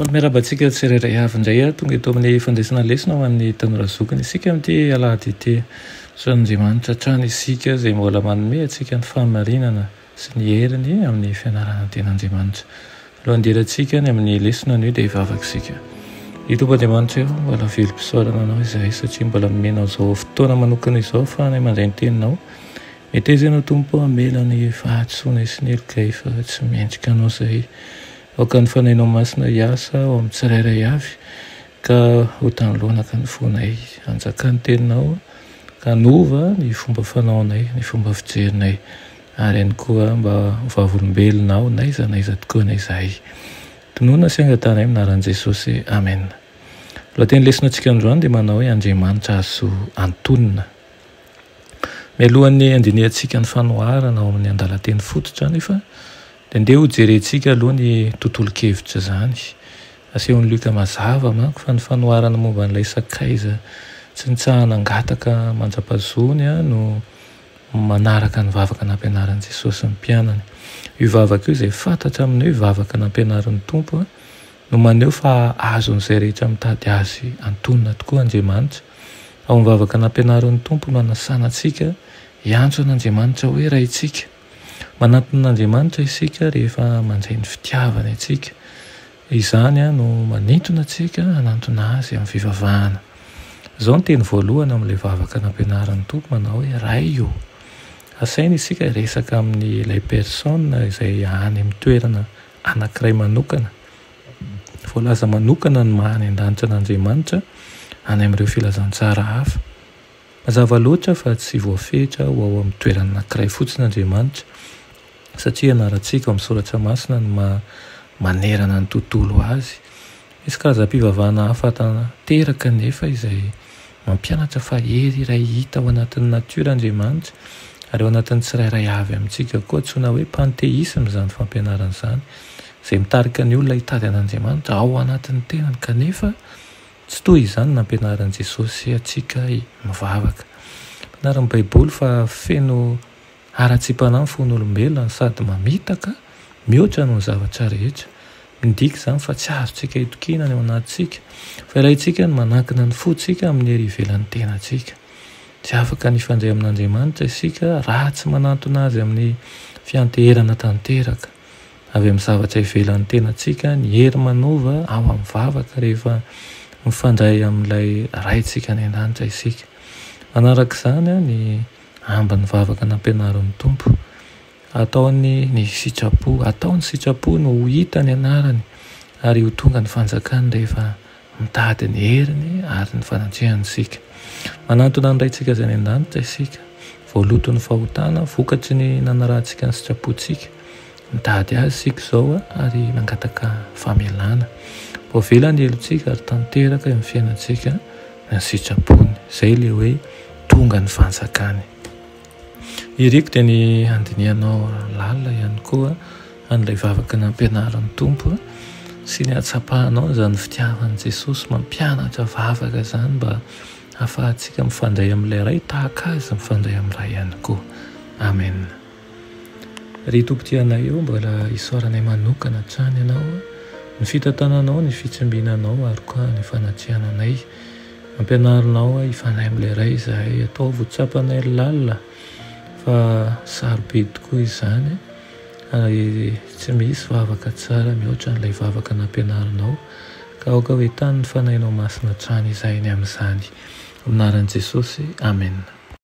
Faly miarahaba antsika tsirairay avy indray aho tonga eto amin'ny fandraisana lesona ho an'ny tanora zokiny isika amin'ity alahady ity. Soavin'Andriamanitra hatrany isika izay mbola manome antsika ny fahamarinana sy ny heriny amin'ny fianarana ny ten'Andriamanitra. Alohan'ny hidirantsika any amin'ny lesona anio dia hivavaka isika. Ry Tompo Andriamanitra o, mbola velom-pisaorana Anao izahay satria mbola nomena an'izao fotoana manokana izao ahafahana mandray ny Teninao. Meteza ianao Tompo a, mela ny fahadisoanay sy ny helokay fa tsy mendrika anao izahay. Aoka ny Fanahinao Masina hiasa ao amin'ny tsirairay avy ka ho tany loanaka ny fonay. Hanjaka ny Teninao ka hanova ny fomba fanaonay, ny fomba fijerinay ary ihany koa mba ho vavolombelona aho n'aiza n'aiza tokoany izahay. Tononina sy angatanay amin'ny anaran'i Jesosy. Amena. Lohateny lesonatsika androany dia manao hoe Andriamanitra azo antonina. Mialohan'ny handinihantsika ny fanoharana ao amin'ny andalan-teny fototra anefa dia andeha hojerentsika aloha ny tontolon-kevitra izany. Asehon'i Lioka mazava manko fa ny fanoharana momba an'ilay sakaiza tsy nitsahana hangataka manjapazony no manaraka ny vavaka nampianarin'i Jesosy ny mpianany. Io vavaka io izay fantatra amin'ny hoe vavaka nampianarin'ny Tompo no maneho fa azon'izay rehetra mitady Azy antonona tokoa Andriamanitra. Ao amin'ny vavaka nampianarin'ny Tompo no anasanantsika hiantso an'Andriamanitra hoe Raintsika. Manantona an'Andriamanitra isika rehefa mandray ny fitiavany antsika. Izany no manintona antsika hanantona Azy amin'ny fivavahana. Izao ny teny voalohany amin'ilay vavaka nampianarin'ny Tompo manao hoe Ray ô. Asaina isika hiresaka amin'ilay Persona izay any amin'ny toerana anankiray manokana. Voalaza manokana ny maha any an-danitra an'Andriamanitra any amin'ireo filazantsara hafa. Mazava loatra fa tsy voafetra ho ao amin'ny toerana anankiray fotsiny Andriamanitra, satria ianarantsika ao amin'ny Soratra Masina ny maha manerana ny tontolo azy Misy karazam-pivavahana hafa tanteraka anefa izay mampianatra fa hery iray hita ao anatin'ny natiora Andriamanitra, ary ao anatin'ny tsirairay avy amintsika koa. Antsoina hoe panteisma izany fampianarana izany, izay mitarika ny olona hitady an'Andriamanitra ao anatin'ny tenany, kanefa tsy toy izany nampianarin'i Jesosy antsika mivavaka. Ampianarin'ny Baiboly fa feno. Haratsimpana ny fon'olombelona no sady mamitaka mihoatra noho ny zavatra rehetra. Midika izany fa tsy azontsika itokiana ny ao anatintsika, fa ilaintsika ny manankina ny fontsika amin'ny hery ivelan'ny tenantsika. Tsy afaka ny hifandray amin'Andriamanitra isika raha tsy manantona azy amin'ny fianteherana tanteraka. Avy amin'ny zavatra ivelan'ny tenantsika ny hery manova ao amin'ny vavaka rehefa mifandray amin'ilay Raintsika any an-danitra isika. Manaraka izany, ny. Ambiny vavaka nampianarin'ny Tompo. Ataony ny sitrapo. Atao ny sitrapo no ho hita ny anarany ary ho tonga ny fanjakany rehefa mitady ny heriny ary ny fanatrehany isika. Manantona ny Raintsika izay any an-danitra isika. Voaloton'ny fahotana, vokatry ny nanarahantsika ny sitrapontsika, Mitady Azy isika izao ary mangataka famelana. Voavela ny helotsika ary tanteraka eo amin'ny fiainantsika ny sitrapony. Izay ilay hoe tonga ny fanjakany. Iriko dia ny handinihanao lalina ihany koa an'ilay vavaka nampianarin'ny Tompo sy ny hatsapahanao izany fitiavan'i Jesosy mampianatra vavaka izany mba hahafahantsika mifandray amin'ilay Ray tahaka Azy mifandray amin'ny Ray ihany koa. Amen. Ry Tompo Tia anay ô mbola isaoranay manokana hatrany Ianao Ny fitantananao ny fitsimbinanao ary koa ny fanatrehana anay Ampianaro Nao ahy hifanahy amin'ilay Ray izahay Ataovy ho tsapanay lalina fa sarobidy tokoa izany ary tsy misy vavaka tsara mihoatra an'ilay vavaka nampianarinao ka aoka ho entanin'ny Fanahinao Masina hatrany izahay ny amin'izany Amin'ny anaran'i Jesosy Amen.